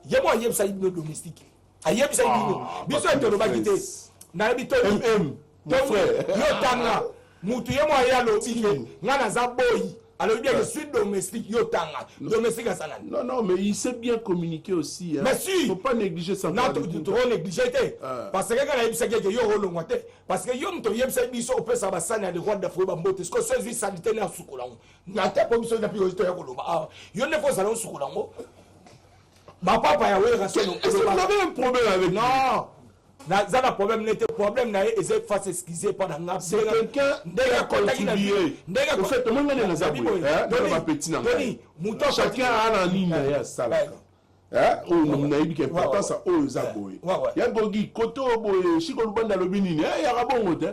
ye mo ayebisaki bino domestique ayebisaki ah, bino biso ete olobaki te nayebi to yotanga mutu ye mo aye alobi ke nga naza boyi alobi bien je suis domestique yo tanga domestique asala non non mais il sait bien communiquer aussi hein. mais si faut pas négliger ça non trop négliger te ah. parce que kana yebisaki ete yo olongwa te parce que yo moto oyebisaki biso opesa basani ya leroide d'afrique bambote siko so ezwi salite na sukola yango na te mpo biso napi oyo toya koloba awa ah. yo nde fo ozala osukola yango mapapa ya wera solo un problème avec non naza na problème nete problème na ye eza efase excuse epa na nga ndenge akotaki na ndenge moto chacun a na nini na ye asalaka oyo nayebi ke importance oyo eza boye ya gogi kote oyo boye shiko lubanda alobi nini yaka bongo te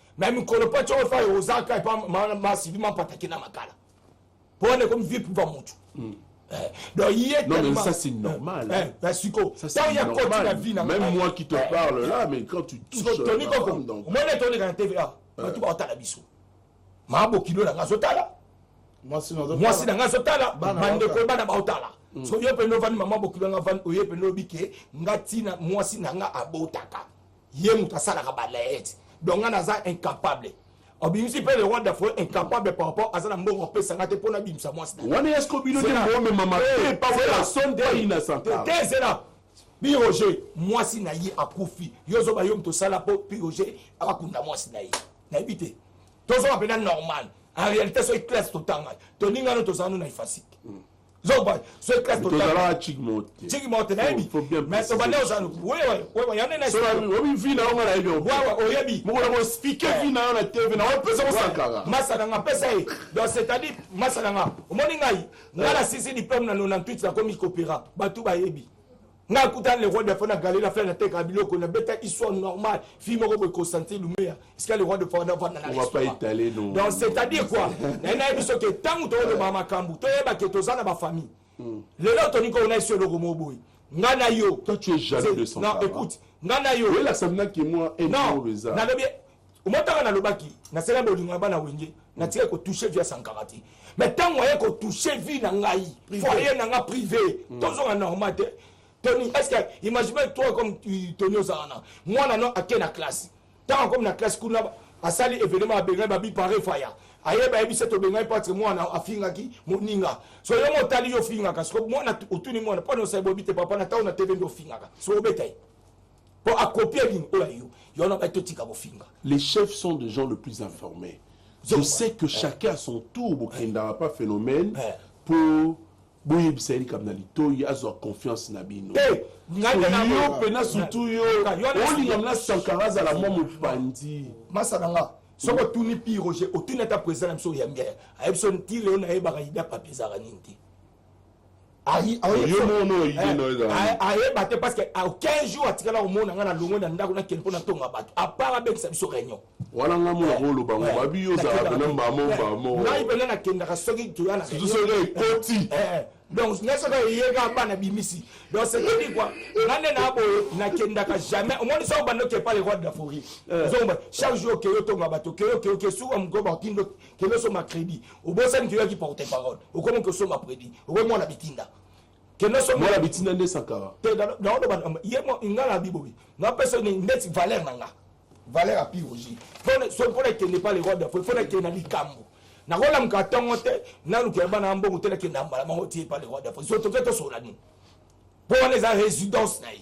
na mikolo mpo ti ofa ozaka epa masivi mapataki na makala mpo wana ekomi vie priva mutu hmm. eh, donc ye non mais ça c'est normal eh, eh, ben siko ntango ya koti na vie na même moi qui te parle là mais quand tu touches toni koko omoni ete oleka na tva bato baotala biso maa bokilo na ngai azotala mwasi na ngai azotala bandeko bana baotala hmm. so yo mpenza ovandi mama bokilo na ngai ovandi oye mpenza oyebi ke ngai ntina mwasi na ngai abotaka ye moto asalaka balaete donc nga naza incapable obimisi mpe le roi d'afrique incapable par rapport aza na mbongo apesa nga te mpo nabimisa mwasi wana ya siko bino te bomema mabe epason te inasanta te zela pi roger mwasi na ye akufi yo ozoba yo moto osala mpo pi roger akunda mwasi na ye nayebi te tozoba mpenza normal en réalité soki classe totangani toningano tozalano na efasike mm. zoba soki classe tozalaka chiki moko te chiki moko te nayebi mais tobanda ozala yande naobi vi na yonga nayebi wawa oyebi mokola koexplike vi na yo na tv na wapesa kosakaka masaka nga pesa ye donc c'est-à-dire masaka nga omoni ngai nga na sisi diplome na 98 nakomi kopera bato bayebi nga akuta le roi de fana galeri afela nateka biloko na beta histoire normale fille moko boye constantin lumeya esika le roi de fana vanda na donc c'est à dire quoi naye nayebi soki ntango tokolobaka makambo toyeba ke toza na bafamille hmm. lelo toni koo na esi eloko moko boye nga na yo toi tu es jaloux de son non écoute nga na yo elakisa mna ke moi non nalobi omoi ntaka nalobaki nasenga bolingo ya bana wenge natika kotouche vie ya sankara te mais ntango aye kotouche vie na ngai foyer na nga privé mm. tozonga normal te tony est ce que imagine toi comme tony ozala na mwana no ake na classe ntango akomi na classe kuna asali événement abengani babipare faya ayeba ayebisa tobengani patre mwana afingaki moninga so yo motali yo ofingaka soko mwana otuni mwana mpo na osali boyebi te papa na ntango na tv nde ofingaka so obeta ye po akopia nini oyo ya yo yo na bai totika kofinga les chefs sont des gens le plus informés je sais que chacun à son tour bokendaka pa phénomène po boyebisa ye likambo na litoi azwa confiance na bino eh, yo mpena surtout yo olingam na sankara azala mwa mopandi masa na nga soki otuni pi roger otuni ata président na biso oyambi ayebi so ntile yo nayebaka ida papi ezalaka nini te ayeba te parce que 15 jours atikala komona ngai na longo na ndako nakende mpo natonga bato apart abengisa biso réunion wana nga mona koloba ngo babi yo ozalaka pena mbamo mbamo ngai pena nakendaka soki toya na soki ekoti donc ngai soki eyeka bana bimisi donc cetadi quoi nga nde na boye nakendaka jamais omoni soki obanda okepa le roi de la forie chaque jour okeyi otonga bato okeyi okeyi okeyi suka mokoba otindo kende osomba credit obosani ke oyaki porte parole okomi kosomba credit okomi mwana bitinda kende osomba mwana bitinda nde sakara te naoloba ye nga na bibobi napesa ndeti valeur na nga valeur ya pirogi mpona ekende pa le roi de fo fona ekende na likambo nakolamuka ntongo te nalukela bana ya mbongo te nakende ya mbala moko tie pa le roi de fo sotoke tosola nini mpo wana eza résidence na ye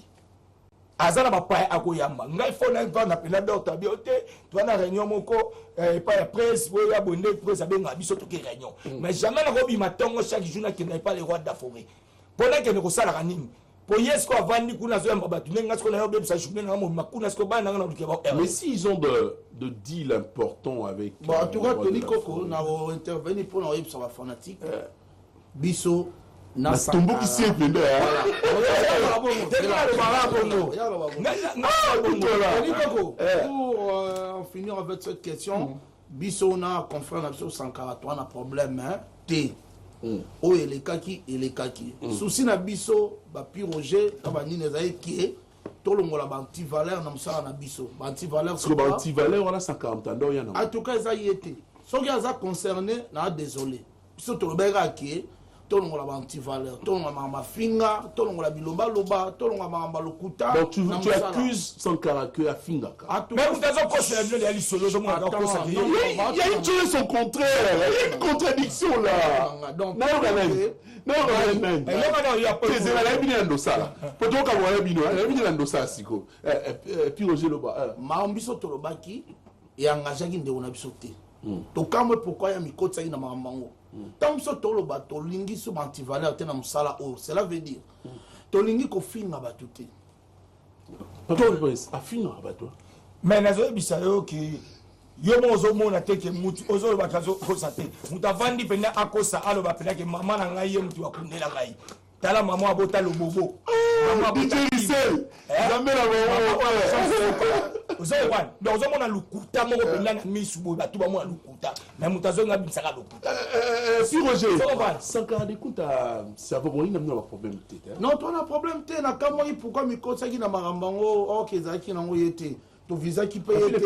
aza na bapaya akoyamba ngai fo na vanda mpena dor tabi yo te toa na réunion moko eh, epai ya prese oyo ya boye nde prese abengaka biso toke réunion mm. mais jamais nakobima ntongo chaque jour nakenda epai le roi de la forêt mpo nakende kosalaka nini mpo ye siko avandi kuna azoyamba bato ndenge nga siko nayo obebisa journée nanga mobima kuna siko bana nanga na luke ba mais si ils ont de, de deal important avec bon en tout cas euh, tony koko na intervenir mpo na oyebisa bafanatique euh, biso na tomboki simple nde finir avec cette question mm. biso na confrère na biso sankara toa na problème te mm. oyo elekaki elekaki mm. susi na biso bapiroge na banini ezali kie tolongola baantivaleur na mosala na biso baantivaleur wana sankara mtanda oya na en tout cas eza ye te soki aza concerné na désolé biso tolobaki kaka ke tolongola ba antivaleur tolongola makambo afinga tolongola bilobaloba tolongola makambo lokuta donc tu, tu accuses sankara que afingaka ah, mais moto azokosela bino ya lisolo ozomonakosa il y a une chose son contraire il y a une contradiction là nayoka nani nayoka nani ezela nayebi nini na ndosala po tokaboka na bino nayebi nini na ndosala sikoyo eh, eh, eh, piroge loba makambo biso tolobaki e engageaki ndeko na biso te hmm. tokamwe pourkui ya mikotisaki na makambo yango ntango hmm. biso toloba tolingi so bantivaleur te na mosala oyo cela veut dire hmm. tolingi kofinga bato te afingaka bato mais nazoyebisa yo ke yo mo ozomona te ke mutu ozolobaka azokosa te moto avandi mpenza akosa aloba mpenza ke mama na ngai ye moto akundela ngai tala mama abota lobobo ozokwana donc ozomona lokuta moko mpenza na misu boye bato bamona lokuta me moto azongi abimisaka lokuta si roger sankara dekuta cerveau boyi na mino baproblème te non to na problème te nakamwaki pourkui mikosaki na makambo yango oke ezalaki nango ye te tovisaki mpe ye te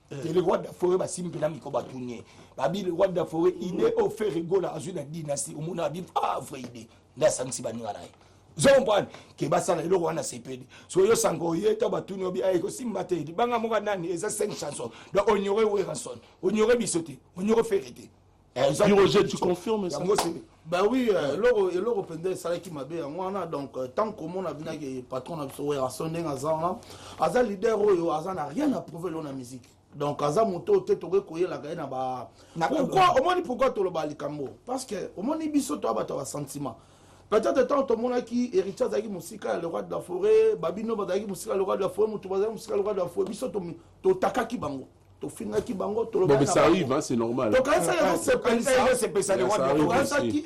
te le roi de la forêt basimbi mpena miko batuni ye babi le roi de la forêt idée oyo fere gola azwi na dynastie omona abi ah vrai idée nde asangisi baninga na ye zombwani ke basala eloko wana sepeli soki yosanga oye to batuni obi aye kosimba te libanga moko nani eza 5 chanson donc onyore weranson onyore biso te onyore fere te Piroger, tu confirmes ça Bah oui, euh, eloko eloko pende esalaki mabe yango wana donc euh, tant komona binaki patron na biso Werrason ndenge aza wana aza leader oyo aza na rien à prouver lelo na musique donc aza moto oyo te tokoki koyelaka ye na ba pourquoi omoni pourquoi toloba likambo parce que omoni biso toya bato ya basentiment peut-être ntango tomonaki héritier azalaki mosika ya le roi de la forêt babino bazalaki mosika ya le roi de la forêt moto bazalaki mosika ya le roi de la forêt biso totakaki bango tofingaki bango tolobatokanisaki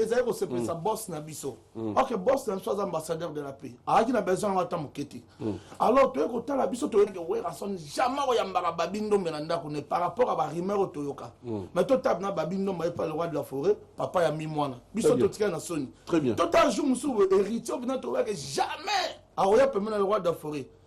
ezali kosepelisa bos na biso mm. ok bos na biso aza ambassadeur de la paix azalaki na besoin yango ata moke te mm. alors toyei kotala biso toyeke werason jamais oyambaka babi ndombe na ndako ne par rapport ya barumeur oyo toyoka mm. mais totabe na babi ndombe epa le roi de la forêt papa ya mi mwana biso totikali na soni totala jour mosusu héritier obina toyake jamais akoya pembe na le roi de la forêt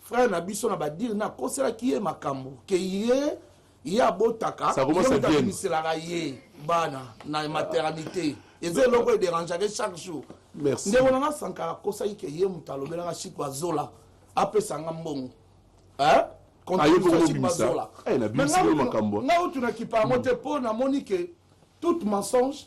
frère na biso na badire na akoselaki ye makambo ke ye ye abotaka yebimiselaka ye bana na maternité eza eloko ederangeake chaque jour ndeko na nga sankara akosaki ke ye moto alobelaka chiko azola apesa nga mbongo nga otunaki pango te mpo namoni ke toute mensonge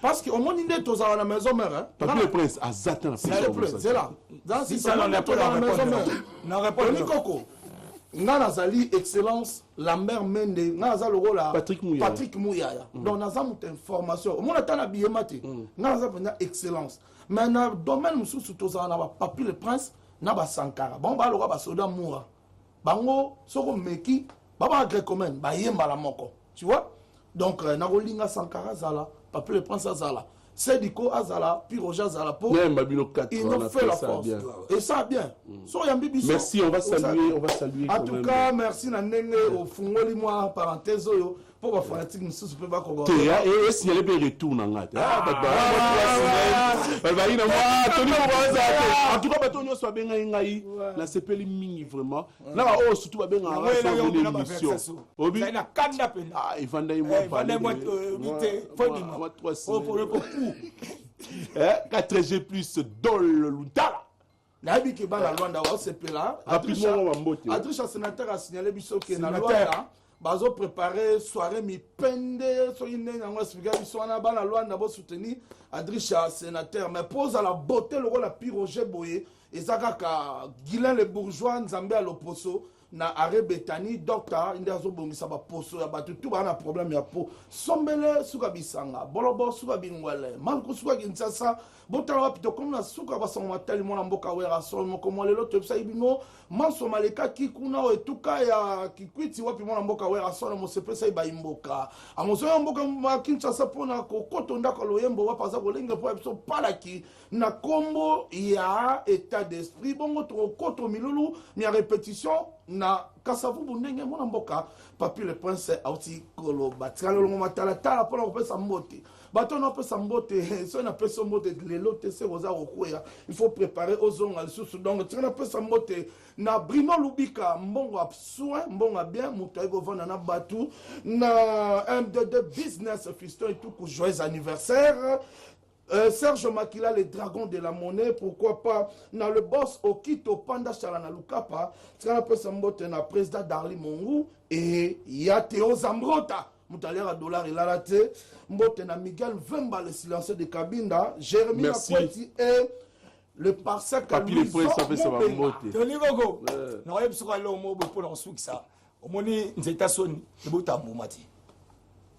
Parce que omoni nde tozala na maison mère hein. Papy le prince aza te na C'est le prince, c'est là. Dans si ça on est pas dans la maison mère. Na répondre. Tony Koko. Nga nazali excellence Lambert Mende, nga naza lokola Patrick Muyaya. Patrick Muyaya. Mm. Donc naza mutu information. Omona ata na billet mate. Mm. Nga naza penza excellence. Mais na domaine mususu tozala na ba Papy le prince na ba Sankara. Bon ba lokola ba soda moura. bango soki omeki babaka grecomene baye mbala moko tu vois donc euh, nakolinga sankara azala papi le prince azala sediko azala piroge azala po nayamba bino ino fait la force et ça bien mm. so oyambi biso merci on va saluer on va saluer en tout cas merci na ndenge ofungoli mwa parenthèse oyo mpo bafanatike mosusu mpe bakoba te esignale mpe retour na ngai te bazalaki na toli mpo bazala te en tout cas bato nyonso babengaki ngai nasepeli mingi vraiment na baoyo surtout babengakaemission evandaki mwa 4g plus dol lutala nayebi ke bana lwanda osepela adrisha senateur asignale biso ke na lwanda bazo prépare soirée mipende soki ndenge yango explika biso wana bana lwanda bosoutenir adrisha senateur mais mpo ozala bote lokola piroge boye eza kaka guilin le bourgeois nzambe ya loposo na arret betani docteur nde azobongisa baposo ya bato tu baa na problème ya po sombele suka bisanga bolobo suka bingwele malku suka kinshasa botala wapi tokomi na suka basango matali mwana mboka wera solo moko mwa lelo toyebisaki bino manso malekaki kuna o etuka ya kikwiti wapi mwana mboka wera solo mosepesaki bayimboka amozoya mboka ya kinshasa mpo na kokoto ndako ya loyembo wapi aza kolengela mpo ya biso palaki na kombo ya etat d'esprit bongo tokokoto milulu mya repetition na kasavubu ndenge mwana mboka papi le prince auti koloba tikala longo matalatala mpona kopesa mbote bato wana opesa mbote soki napesi yo mbote lelo te se oza kokweya il faut préparer ozonga lisusu donc tika napesa mbote na brimo lubika mbongo ya soin mbongo ya bien moto ayi kovanda na bato na mdd business fiston etuku joyeux anniversaire Euh, Serge Makila, le dragon de la monnaie, pourquoi pas na le boss Okito Panda Chalana Lukapa, tika pesa mbote na président Darly Mongu et ya Théo Zambrota. Mutaliara dollar et lalate, mbote na Miguel Vemba le silencieux de Kabinda, Jérémy Akweti et le parsec Papi le prince ça fait ça va mbote. Tony Gogo. Na wayebi soko alo mo bo pona sukisa. Omoni nzeta soni, ebota mbuma te.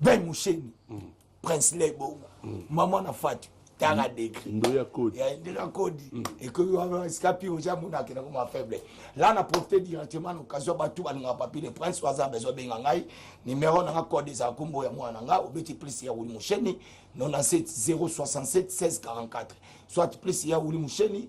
ben musheni mm. prince ley bongo mm. mama na fatu tanga mm. degre ndoya kodi ya ndoya kodi mm. ekoki wana esika pi oja mona akenda koma faible la na profite directement na occasion bato balingaka papier de prince waza besoin benga ngai numero nanga code ezala kombo ya mwana nga obeti plus ya wuli musheni 97 067 1644 soit plus ya wuli musheni